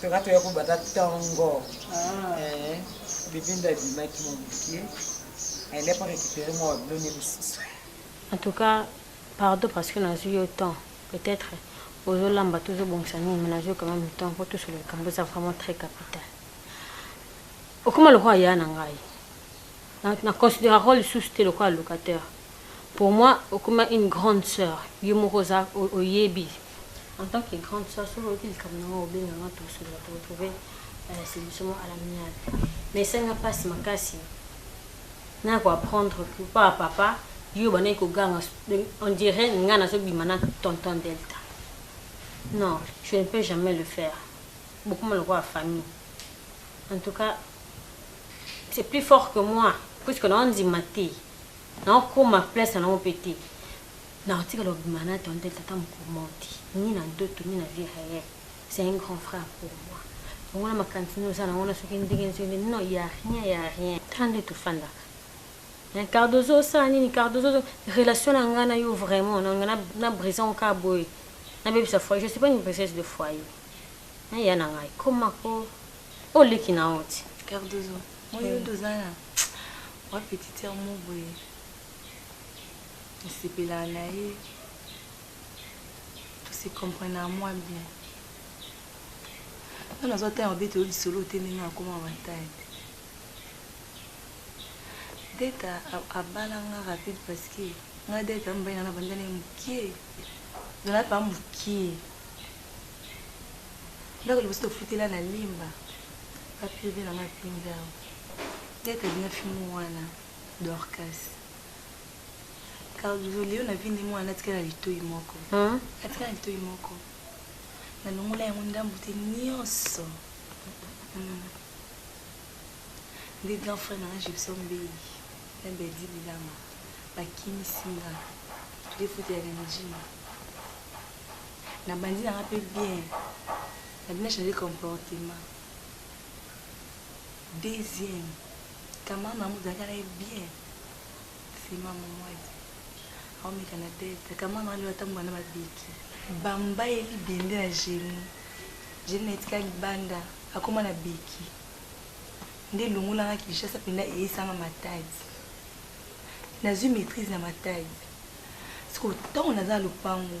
Toka toya kobanda ntongo eh, bibinda abimaki mwa moke aenda mpo récupéré mwa babilone mosusu en tout cas pardon parce que nazwi yo temps peut-être ozolamba to ozobongisa nini mais nazwi quand même temps mpo tosolo likambo eza vraiment très capital okoma lokola ya na ngai na considéraka lisusu te lokola locataire pour moi okoma une grande sœur yo moko oza oyebi en tant que grande soeur soki oyoki likambo na ngai obenga ngai tosolola toretrouve euh, solution mo à l'amiable mais esenga mpasi makasi naya koapprendre pa papa yo bandaki koganga on dirait ngai nazobima na tonton delta non je ne peux jamais le faire bokoma lokola famille en tout cas c'est plus fort que moi puisque naondima te naokoma place na nango mpe te Nakotikala kobima na tonton Elsa ata mokolo moko te, ni na ndoto ni na vie reelle, c'est un grand frère pour moi, longola makanisi nini oza na yango wana soki ndenge nini soki ndenge nini, non il ya rien, il ya rien, tala ndenge tofandaka hein, Cardozo osala nini, Cardozo ozo, relation na ngai na yo vraiment na nga na briser yango kaka boye, nabebisa foyer, je suis pas une briseuse de foyer hein, ya na ngai koma ko, oyo leki na yo ti. Cardozo, moi yo nde oza na mua petite sœur moko boye. nasepelaka na ye tose comprenaka mwa bien nga nazwa ntango obeta yo lisolo te ndenge akoma bataye deta abala nga rapide parce que nga deta mobali nga na banda na ye mokie zala pa mokie ndako liboso tofutela na limba baprive na nga pinzao deta bina fimo wana Dorcas. Carlo leo na vindi mwana atikala na litoi moko. Hein? Atikala na litoi moko. Na longola yango ndambu te nyonso. Hmm. Nde grand frère na nga Gibson Mbeyi na Bedi Bilama bakimisi nga toke fute ya Ganjima. Na bandi na nga pe bien. Na bina changer comportement. Deuxième. Kama mamu zalaka na ye bien sima momwadi aomeka na tete kama malo ata mwana babiki bamba ye libende na geni geni na etika libanda akoma na biki nde elongolanga kinshasa mpenza eyisanga matadi nazwi maîtrise na matadi siko ntango naza na lopango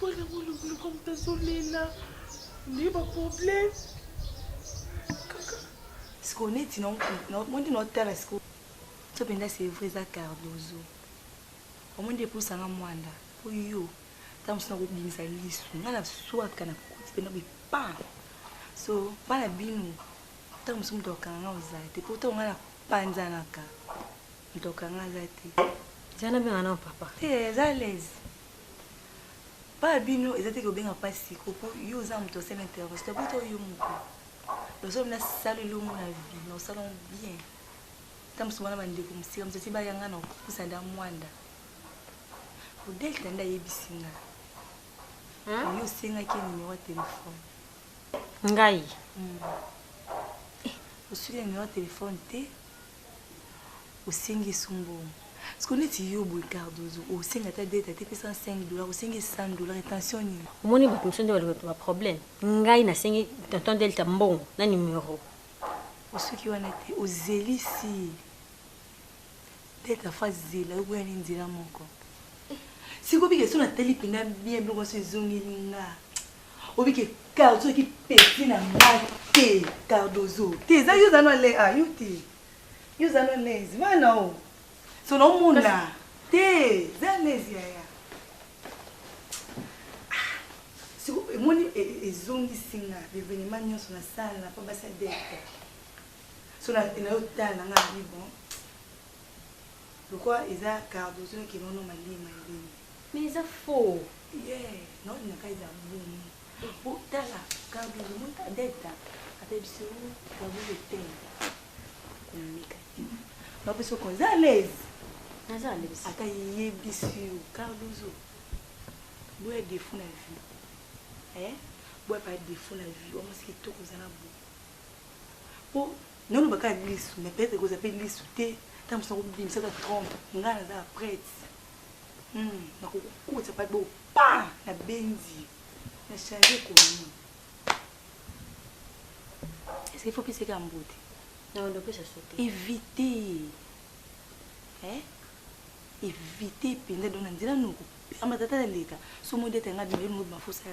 Voilà mon loulou comme t'as sonné là. Nde ba problème. Kaka. Ce qu'on est non non mon dit notre terre ce que to penda c'est vrai za Cardozo. Au moins depuis ça nga mwanda. Pour yo. Tango sina ko bimisa lisu. Nga na soit kana ko ti penda bi pa. So bana binu. Tango sumto kanga ozate. Pourtant nga na panzanaka. Ntoka nga aza te. Eza na benga na papa. Te eza l'aise. Ba bino eza te ko benga pa siko po yo oza moto sel intervention to poto yo moko. Lozo na sala elongo na vie na osala bien. Tam so wana bande ko musika mzati ba yanga na kusa da mwanda. Odel tanda yebisi nga. Hein? Yo senga ki numéro ya téléphone. Ngai. Hmm. Eh, osuki numéro ya téléphone te. osengi esu mbongo siko neti yo boye cardozo osenga ata dete ate pesa 5 dollar osengi 100 dollar intention nini omoni bato mosusu nde balobaka baproblème ngai nasengi tonton delta mbongo na numero osoki wana te ozelisi delta fa zela okoya nde nzela moko sikobika eso natali mpena bien biloko nyonso ezongeli nga obi ke cardozo eki peti na nga te cardozo te eza yo zano ale a yo te yo zano alaise bana o so na omona te za alaise yaya ah, siko emoni e, e, ezongisi nga bevenema nyonso na sala na pa basi adete so na yo tala na nga abi bon lokwa eza cardozo ekenono malima ebeni Mais eza faux. Yeah, non na kai za mbumu. Bo tala kabu mbumu ta deta. Ata biso kabu le tem. Kumika. Ba biso ko za l'aise. Na za l'aise. Ata ye bisu kabu zo. Bo ya defu na vie. Eh? Bo pa defu na vie. Wa musiki to ko za na bo. Po non ba ka lisu, mais peut-être ko za pe lisu te. Tant que ça ko bimisa ta trompe. Ngana za prête. Hum, nakokukotisa pa bo pa na benzi na change komi. Est-ce qu'il faut pesa ka mbote? Non, non, pesa sote. Éviter. Eh? Éviter penda dona nzela noko. Ama tata na leka. So mode tanga bino ngo mafusa.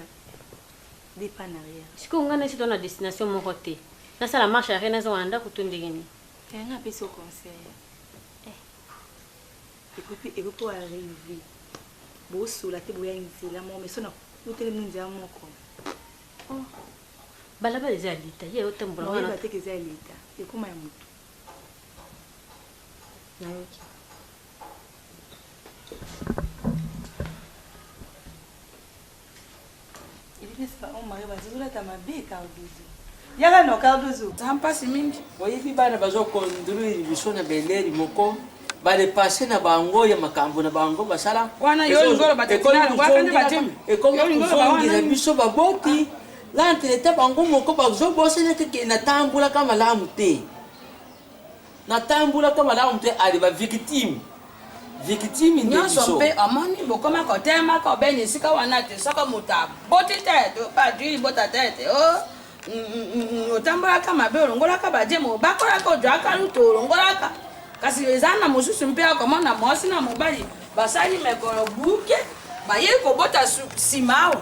Départ en arrière. Siko ngana si dona destination moko te. Na sala marche arena zo wanda kutundegeni. Tanga pesa conseil. Ecoute ekoki ko arriver bosola te boya nzela moko mais so na kuteli mino nzela moko oh. balabala eza ya leta ye otambola wana te eza ya leta ekoma ya motu nayoki yaka no cardozo za mpasi mingi oyebi bana bazokonduire biso na beleri moko badepase na bango ya makambo na bango basala ekomi kozongisa biso baboti lantreta bango moko bazobosanaka ke natambolaka malamu te Natambolaka malamu te ade ba victime victime nde biso nionso mpe omoni bokoma kotema kobeni esika wana te soko moto aboti te to badui libota te te o oh, mm, mm, mm, otambolaka mabe olongolaka bajemo obakolaka ojwaka lutu olongolaka kasi eza na mosusu mpe akomona mwasi na mobali basali mekolo buke baye kobota nsima awa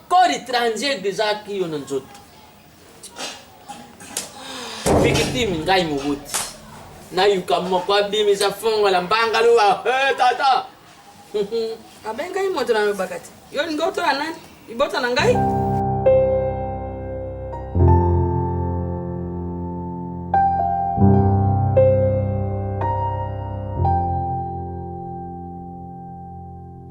Corps étranger deja kiyo na nzoto. Victime ngai moboti. Na yuka moko abimisa fongo la mbanga luwa. Eh tata. Abengai moto na lobaka te. Yo linga otola nani? Libota na ngai?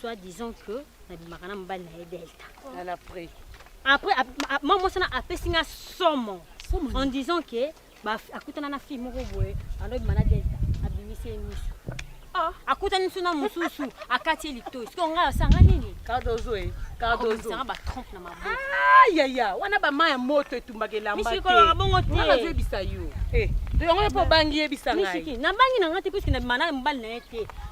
soit disant que nabimaka na mobali na ye delta après après mama mwasi wana apesi nga somo en disant que akutana na fille moko boye andobima na delta abimisi ye miso ah. akutani biso na mosusu akati ye litoi sikoyo ngai asanga nini cardozo e cardozoanga batrompe na maboyaya ah, wana bama ya moto etumbaka elamba te misikoloka bongo te nazoyebisa yo eh, yango yo mpo obangi yebisa ngai nabangi na ngai te puiske na bima na mobali na ye te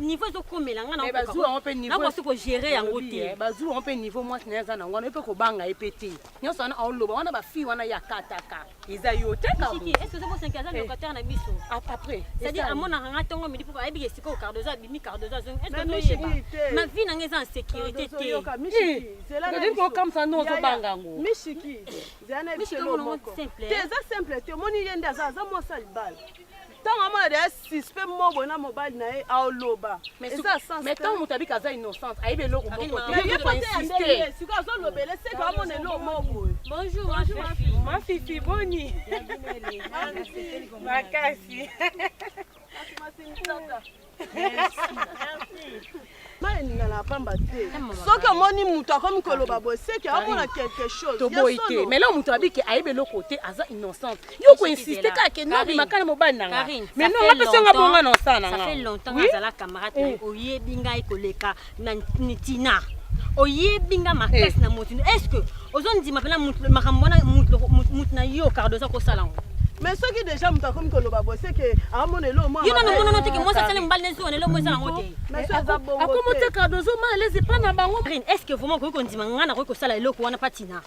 niveau ezokomela nga nakosi kogere yango te eh, bazwi yango mpe niveau mwasi na ye aza na yango wana mpe kobanga ye mpe te nyonso wana aoloba wana bafille wana ya kataka eza yo te amonaka nga ntongo midi mpo ayebi esikoyo cardozo abimi cardozo azongi esoyeba ma vie na nga eza en sécurité teokamisa no ozobanga yango mishiki eza simple te omoni ye nde aza aza mwasi alibala ntango amona deya suspect moko boye na mobali na ye aoloba eza santango moto abika aza innocente ayebi eloko mokoyeko azolobela eseke amona eloko moko boye bonjour mafifi boni makasi soki omoni moto akomi koloba boseki aomona quelque chose toboyi te mais leo moto abiki ayebi eloko te aza innocente yo koinsiste kaka ke nobimaka na mobali na nga mais nonga mpe songa bonga na osala na nga oyebi ngai koleka na nitina oyebi nga makasi eh. na motindo est ce que ozondima mpena makambo wana motu na yo cardo oza kosala yango mais soki déjà moto akomi koloba boye seke amona ah, elo moyo nano omonana teke mwasi asali mobali na ezuwa na elo moyo eza nango te akomotika dozomana lezi mpa na bango est ce que vraiment okoki kondima ngai nakoki kosala eloko wana mpatina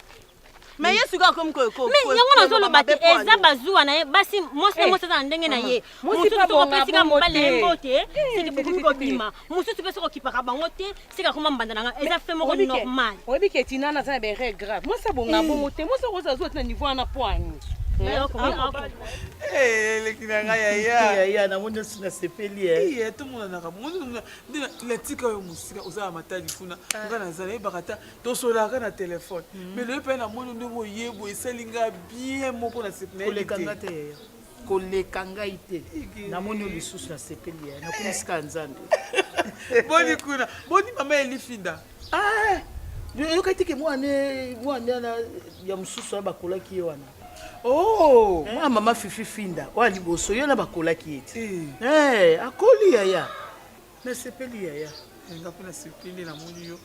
me ye sikoyo akomi me yango nazoloba te eza bazuwa na ye basi mwasi na mwasi aza na ndenge na ye mosusu soki opesi ka mobali ye mbote siki bokomi kobima mosusu mpe soki okipaka bango te siki akoma mbanda na ngai eza fe moko normal oyebi ke tina naza na bere grave mwasi abonga bongo te mwasi okoza azuwa tina niveau wana po ani eleki na ngai yayaya namoni osi nasepeli tomonanaka moni natika yo mosika oza na matali kuna ngai nazala yebaka ta tosolaka na telefone mais loye mpe namoni ndenge oyebo esali nga bien moko na koleka nga te yaya koleka ngai te namoni yo lisusu na sepeli yaya nakomi sika ya nzambe boni kuna boni mama elifinda ah! oyokaki teke mwana wana ya mosusu wana bakolaki ye wana oh! eh? mwana mama fifi finda oya liboso ye wana bakolaki ye te eh. Eh, akoli yaya Nasepeli yaya eh, nga mpe nasepeli nde namoni yo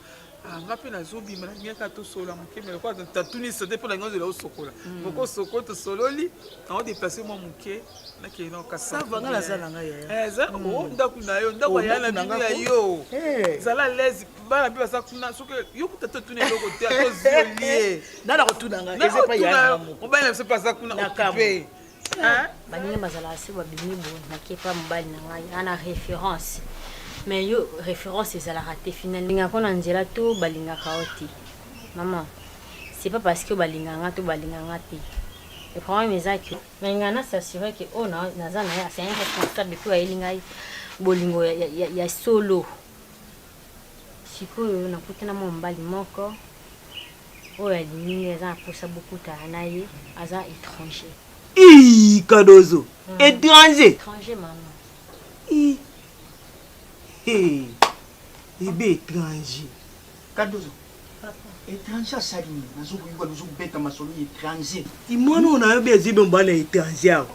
ah, nga mpe nazobima na miaka tosolola moke me lokola tatuni sote mpo na ngai ozela osokola hmm. moko osoko tosololi nango deplace mwa moke nakende nao kasava nga naza na ngai yaya eh, hmm. o oh, ndako na yo ndako oh, ya na bino ya yo eh. zala lese bana mpe baza kuna soki yo kuta totuna eloko te tozolie nana kotuna ngai mobali na biso mpe aza kuna okipe Hein? baninga bazalaka se babimi boye nakepa mobali na ngai ana référence mais yo référence ezalaka te final lingako na nzela to balingaka yo te mama c'est pas parce que balingaka nga to balinga nga te le problème eza que nalinga na s'assurer que oyo oh, naza na ye c'est un responsable mpe ayeli ngai bolingo ya, ya, ya, ya solo Sikoyo nakuti na mwa mobali moko oyo alingi ngai aza na posa bokutana na ye aza étranger. Ii kadozo mm. étranger. Étranger mama. Ii. Hey. Ebe étranger. Kadozo. étranger asali nini nazokoyuka nozobeta masolo étranger imwana oyo nayo be azibe mobali ya étranger awa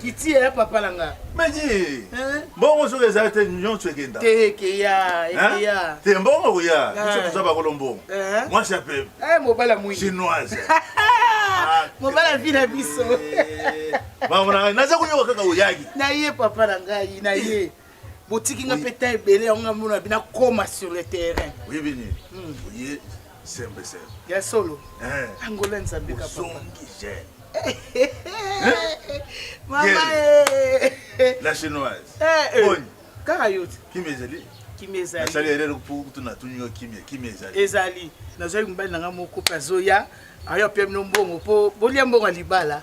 kiti ya papa na nga meji mbongo soki ezali te nyonso ekenda te ekeya ekeya te mbongo koya biso toza bakolo mbongo mwasi ya pembe eh, mobala moi chinoise ah, mobala vi na biso eh. mamonanga naza koyoka kaka oyaki na ye papa na ngai na ye botiki nga mpe temps ebele yango nga mona bina koma sur le terrain oyebi nini hmm. oye sembe sembe ya solo eh. angola nzambe kapazongi jeune mama eh. la chinoise eh, boni kaka yo te kimi ezali kimi ezali nasali erere mpo kutu natuni yo kimi kimi ezali ezali nazwaki mobali na ngai moko mpe azoya ayo apia bino mbongo mpo bolia mbongo ya libala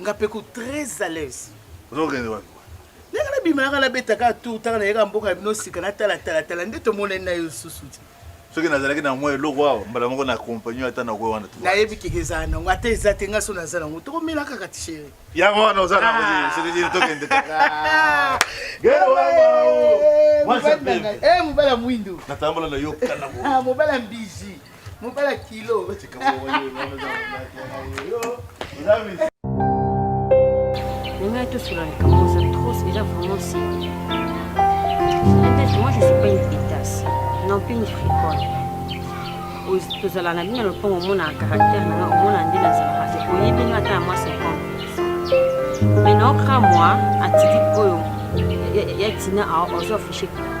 Nga pe ko très à l'aise. Ozokende wapi? Ndenge na bima yaka na beta ka tour tanga na yaka mboka bino sika na tala tala tala nde to mona na yo susu ti. Soki nazalaki na mwa eloko awa mbala moko na accompagner ata na kwa wana tu. Na yebi keke za na ngo ata eza te nga so na za na ngo to mela kaka ti chérie. Ya ngo na za na ngo ah. soki ti to kende ta. Gero wa wa. Mwa sa pe. Eh mubala mwindo. Na tambola na yo kana. Ah mubala mbizi. Mobala kilo. Ngai tosula likambo oza tros eza vraiment si. Peut-être moi je suis pas une pétasse, non plus une friconne. tozala na bino na lopango omona caractère na nga omona nde nazalaka te oyebi nga ata ya mwa 50 mais naokra mwa atitude oyo ya tina aozo affiche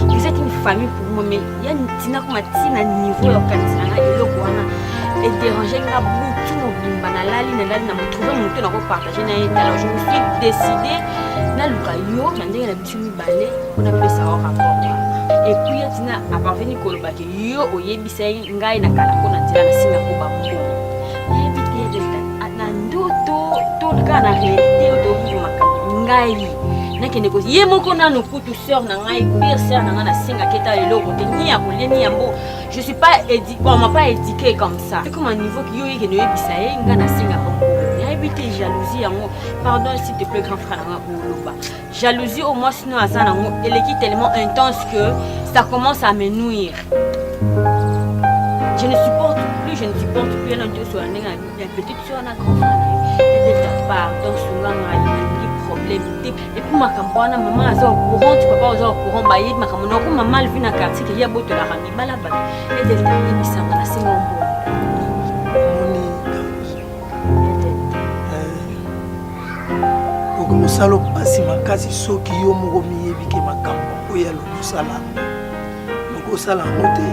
Vous êtes une famille pour moi, mais il y a une tina comme tina niveau ya kanisa na eloko wana et déranger nga butu mobimba na lali na lali na motrouve moto na ko partager na ye alors je me suis décidé na luka yo na ndenge na biso mibale mpona pesa yo rapport et puis ya tina aparveni kolobaki yo oyebisa ye ngai na kala mpo na nzela nasenga ko bango nayebi te delta na ndoto to kaka na realite oyo toyokili makambo ngai nakende ko ye moko nanu kutu sœur na ngai pire sœur na ngai nasengaki ete eloko te ni ya kolie ni yango je suis pas édi on m'a pas éduqué comme ça ekoma niveau yo yekende oyebisa ye ngai nasenga bango nayebi te jalousie yango pardon s'il te plaît grand frère na ngai koloba jalousie au moins sinon aza nango eleki tellement intense que ça commence à me nuire je ne supporte plus je ne supporte plus yana nioso ya ndenge ya petite soeur na grand edeta pardon sunga ngai nalingi problème te epuis makambo wana mama aza au courant ti papa oza au courant bayebi makambo nako mama alvi na quartier keya botolaka mibala bato edeta yebisanga na singa ombo donc mosala opasi makasi soki yo moko miyebi ke makambo oyo ya lokosala loko osala yango te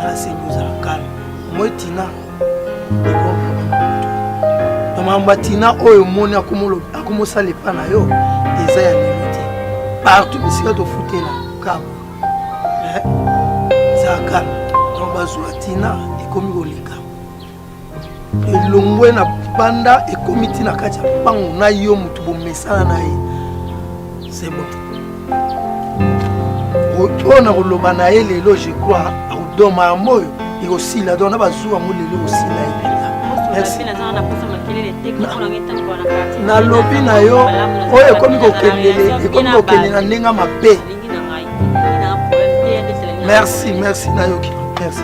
nasengi ozala kalme moi tina na makambo ya tina oyo omoni akomosala epa na yo eza ya lelo te partout bisika tofutela kabo eza kalme donc bazwa tina ekomi koleka elongwe na banda ekomi ti na kati ya mpango na yo moto bomesana na ye se moto oyo nakoloba na ye lelo je crois akodoma yango oyo ekosila donc na bazuwa yango lelo ekosila ye mpenza merci nalobi na yo oyo ekomi kokendele ekomi kokende na ndenge mabe merci merci nayoki merci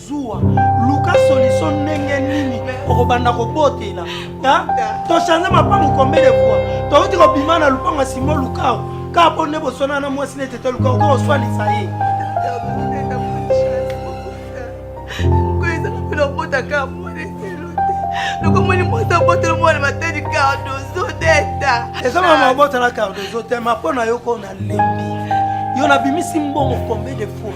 zuwa luka solution ndenge nini okobanda kobotela tochange mapango combien de fois touti kobima na lupango ya simo lukao kaka mpo nde boswana na mwasi nete te lukao kaka oswanisa ye kaka mwana eselo te lokomoni mwasi abotela mwana matali cardozo deta eza mama abotela cardozo te ma mpo na yo ko nalembi yo nabimisi mbongo combien de fois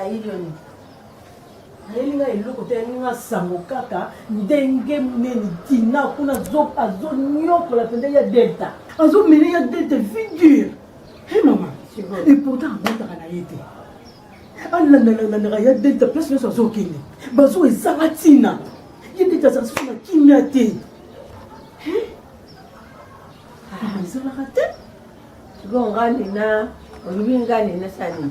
ayilioni ayeli ngai eloko te ayeli ngai sango kaka ndenge nini tina kuna azoniokola mpenza ya delta azomele ya delta figure he mama et pourtant abotaka na ye te alandalandanaka ya delta place nyonso azokende bazo ezanga ntina ye delta azala soso na kimia te ezalaka te sikoyo ngai nina olobi ngai nina sani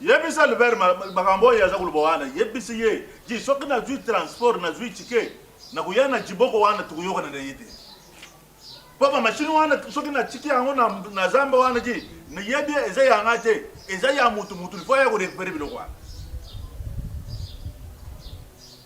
Yebisa Albert makambo oyo aza koloba wana, yebisi ye ji soki nazwi transport nazwi tike nakoya na jiboko wana tokoyokana na ye te mpo bamashini wana soki natiki yango na zamba wana ji nayebi eza ya ngai te eza ya motu motu lifo ya korekupere biloko wana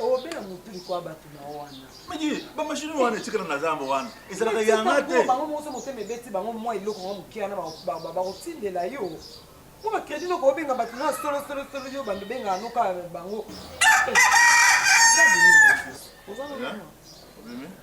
obela motu likwa bato na wana miki bamashini wana etikala na zamba wana ezalaka yanga te bango mokoso motema ebeti bango mwa eloko yango moke wana bakotindela yo mpo bakredi noko obenga bato na solosolosolo yo bando bengaka noka bango eh, eh, eh, oza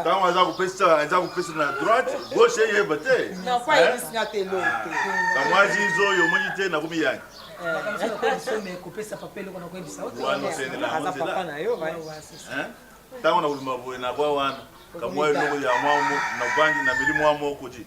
ntango aza kopesa aza kopesa na droite gauche eyeba te kamwazi izo yo omoni te nakomi yangi ntango nakolima boye nakwa wana kamwa eloko ya mwa navandi na meli mwa moko ti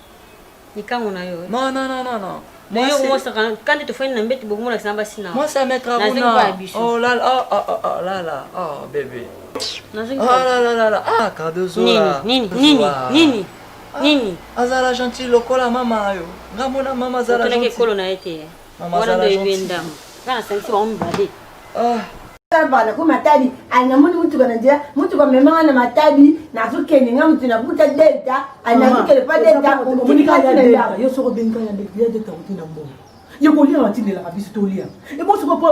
likangu na yo non non non non mais yo moi ça quand tu fais une bête beaucoup moins ça va sinon moi ça mettra où non oh là là oh oh oh là là oh bébé oh là là là là ah Cardozo là nini nini nini nini azala gentil lokola mama yo nga mona mama azala gentil ekolo na ye te wana ndoyebi ye ndambo nga nasangisi bango mibale kava na ko matadi ali na moni mutuka na nzela mutuka mema wana matadi nazo kende nga mutu na buta delta ali na zokele pa delta omoni ka ya delta yo soko benga ya delta ya delta kuti na mbongo ya kolia batindelaka biso tolia ebo soko po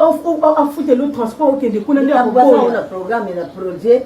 afutelo transport okende kuna nde akokoya na programme na projet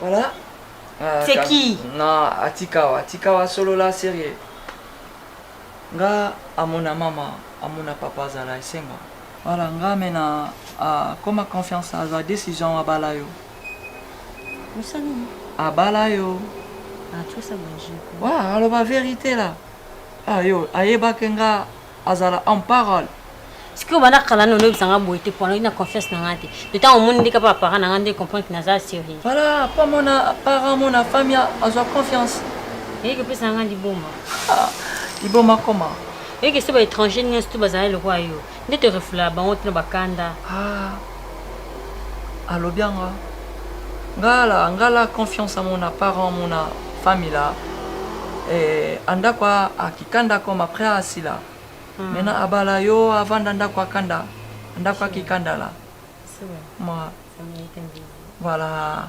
Voilà. Ah, C'est ka- qui? Non, atikawa, atikawa solola sérieux. Nga amona mama, amona papa azala esengo. Voilà, nga mena ah, koma confiance azwa décision abala yo. Mosala nini? Abala yo. Ah, tu vois ça, Benji. Wa, aloba verité là. Ah yo, ayebaki nga azala en parole sikoyo banda kala nini oyebisa nga boye te po alongi na confiance na nga te to ntango omoni ndika mpo apara na nga nde comprendre ke naza serie voilà mpo amona apara amona fami azwa confiance eyeke opesa na nga liboma ah, liboma koma oyeke se baétranger nyonso to bazalai lokola yo nde torefula bango tino bakanda ah. alobi anga ngala ngala confiance mon apparent mon famille là eh, andako akika ndako ma après asila hmm. mena abala yo avanda ndako akanda ndako akikanda la ma voilà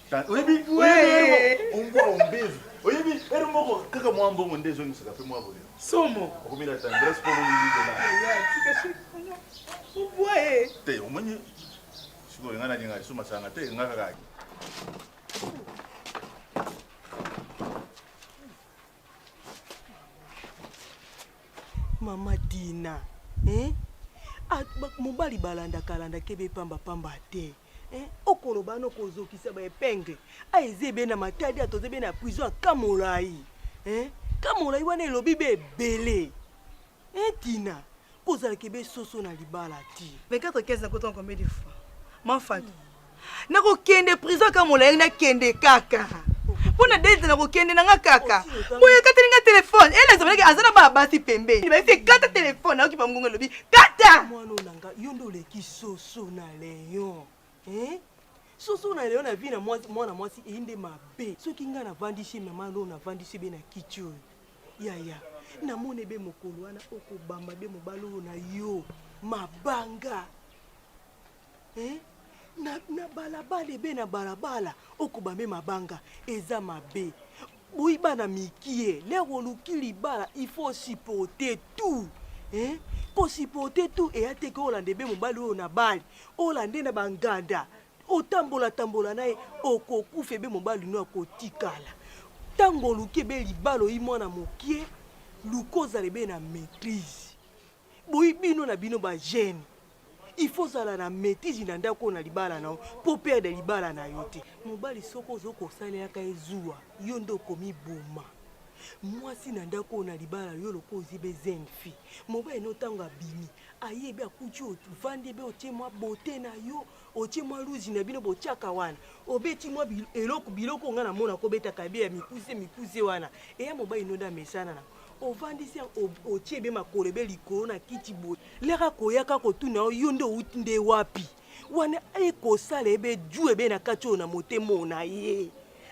oyebi ombwa ombevu oyebi ere moko kaka mwa mbongo nde ezongisaka mpe mwa boyo somo okomi na tendresse mpo oboye te omoni sikoyo ngai nalinga lisusu masanga te ngai kaka mama dina eh? mobali balandaka alandaka ebe pambapamba te Eh, okoloba no kozokisa ba epingle a eze be na matadi a toze be na prison ya kamolai eh, kamolai wana elobi be ebele eh, tina kozalaka ebe soso na libala ti 24 15 nakotanga combien de fois mafatu nakokende prison kaka molai nakende kaka mpo na date nakokende na nga kaka boye ekateli nga telefone ele ezalaki aza na bana basi pembeni baisi ekata telefone nayoki bangonga elobi kata Soso na Leon. Hein? Soso na Leon na vie na mwasi mwana mwasi eyi nde mabe. Soki nga na vandi chez maman Lou na vandi chez be na kiti oyo. Yaya, na mone be mokolo wana okobamba be mobali oyo na yo. Mabanga. Hein? Na, na balabala ebe na balabala okobambe mabanga eza mabe Boyi bana mikie lero oluki libala il faut supporter tout hein ko supporter tout eya te ke olanda ebe mobali oyo na bali olande na banganda otambola tambola na ye okokufa ebe mobali no akotikala ntango oluki ebe libala oyi mwana mokie luka ozala ebe na maitrise Boyi bino na bino ba jeune il faut ozala na maitise na ndako oyo na libala na yo mpo operde libala na yo te. Mobali soki ozo kosalelaka ye zuwa yo nde okomi boma mwasi na ndako oyo na libala yo lokola ozi be jeune fille mobali no tango abimi aye be akuti ovandi be otie mwa beaute na yo otie mwa luzi na bino botiaka wana obeti mwa eloko biloko ngai namona kobetaka ebe ya mikuse mikuse wana eya mobali nonde amesana na ovandisi otie ebe makolo ebe likolo na kiti boye leka koyaka kotuna yo yo nde outi nde wapi wana ekosala ebe ju ebe na kati oyo na motema oyo na ye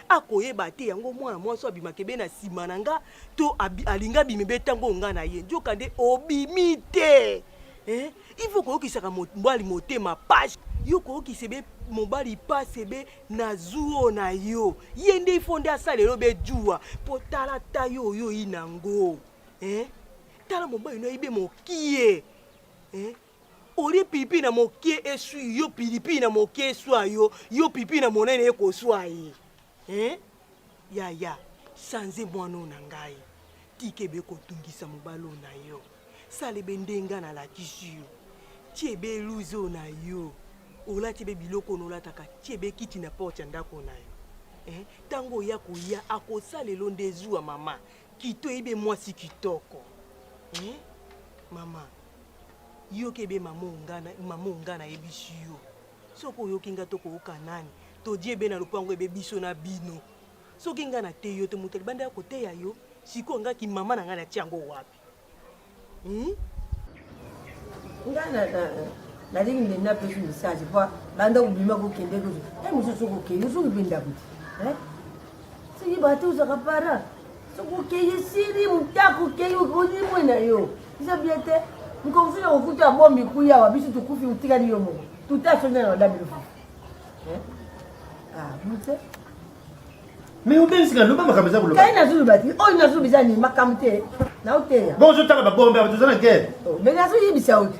akoyeba te yango mwana mwasi abimaka ebe na nsima na nga to alinga abimi be ntango oyo nga na ye nzoka nde obimi te eh? ifo koyokisaka mobali motema page yo koyokisa ebe mobali pasi ebe na zuo na yo ye nde ifo nde asala elo be juwa mpo tala ta yo oyo oyinango eh? tala mobali no ayibe mokie eh? olie pilipili na moke eswi yo pilipili na moke eswa yo yo pilipili na monene ekoswa ye eh? yaya change mwana oyo na ngai tika ebe kotungisa mobali oyo na yo sala ebe ndenga nalakisi yo ti ebe eluzi oyo na yo olati ebe biloko oyo olataka ti ebe kiti na porte ya ndako na yo ntango eh? oya koya akosala elo nde zuwa mama kito ebe mwasi kitoko eh? mama Yo kebe mamu ngana mamu ngana yebisi yo soki oyoki nga to kooka nani todi ebe na lopango ebe biso na bino soki nga na te yo te moto libanda ya koteya yo sikoyo nga ki mama na nga na ti yango wapi hmm? nga na, na, nalingi nde napesi message po banda kobima kokende kuzu e mosusu kokei osuki mpe ndako te Soki bato ozaka para soki okei esili motako okei olimwe na yo eza bie te mokonzi na kokuta abomi kuyawa biso tokufi otikali yo moko tutasonde na badabi lofu bute mais obengisi na loba makambo eza koloba kai nazoloba te oyo nazoloba eza nini makambo te naoteya bo ozotala babombe awa toza na guerre oh, mais nazoyebisa yo te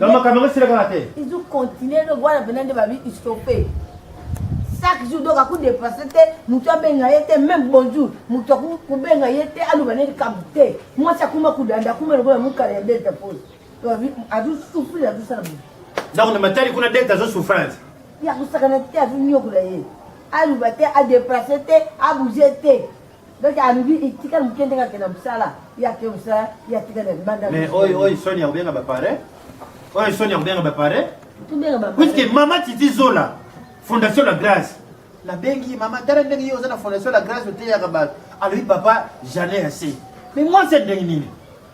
Donc makambo yango esila kaka te. Ils ont continué donc wana mpena nde babi istope. Chaque jour donc aku dépasse te moto abenga ye te même bonjour moto aku kobenga ye te aloba ne likambo te mwasi akuma kodanda akuma lokola mokala ya delta pose azosouffrir azosala boye donc na matali kuna delta azosouffrance ye akosakana te azonyokola ye aloba te adeplace te abouge te Donc alobi itika muke ndenge ake na musala ya ke musala ya tika na banda. Mais oy oy Sonia obenga ba pare. Oy Sonia obenga ba pare. Tubenga ba. Puisque mama Titi Zola Fondation la Grâce na bengi mama tala ndenge yo oza na Fondation la Grâce oteyaka bato alobi papa jamais assez mais moi c'est ndenge nini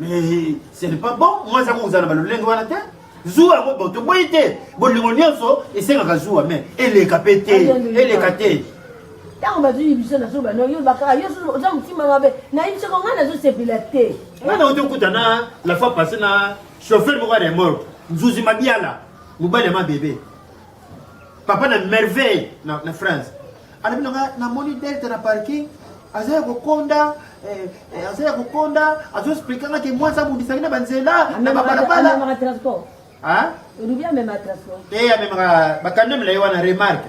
Mais ce n'est pas bon. Moi, ça vous a le lingue à la tête. zuwa yango bo toboyi te bolingo nyonso esengaka zuwa me eleka mpe te eleka te ntango bazwi biso na suba no yoloba kaka yo oza motima mabe nayebi soko ngai nazosepela te ngai nauti okuta na la fois passé na chauffeur moko ya remorque nzuzi mabiala mobali ya mabebe Papa na merveille na, na France alobi na nga namoni delta na parking aza ya kokonda eh, eh, aza ya kokonda azoexplika nga ke mwasi abundisaki na banzela na babalabala olubi amema transport te amemaka bakando milayi wana remarke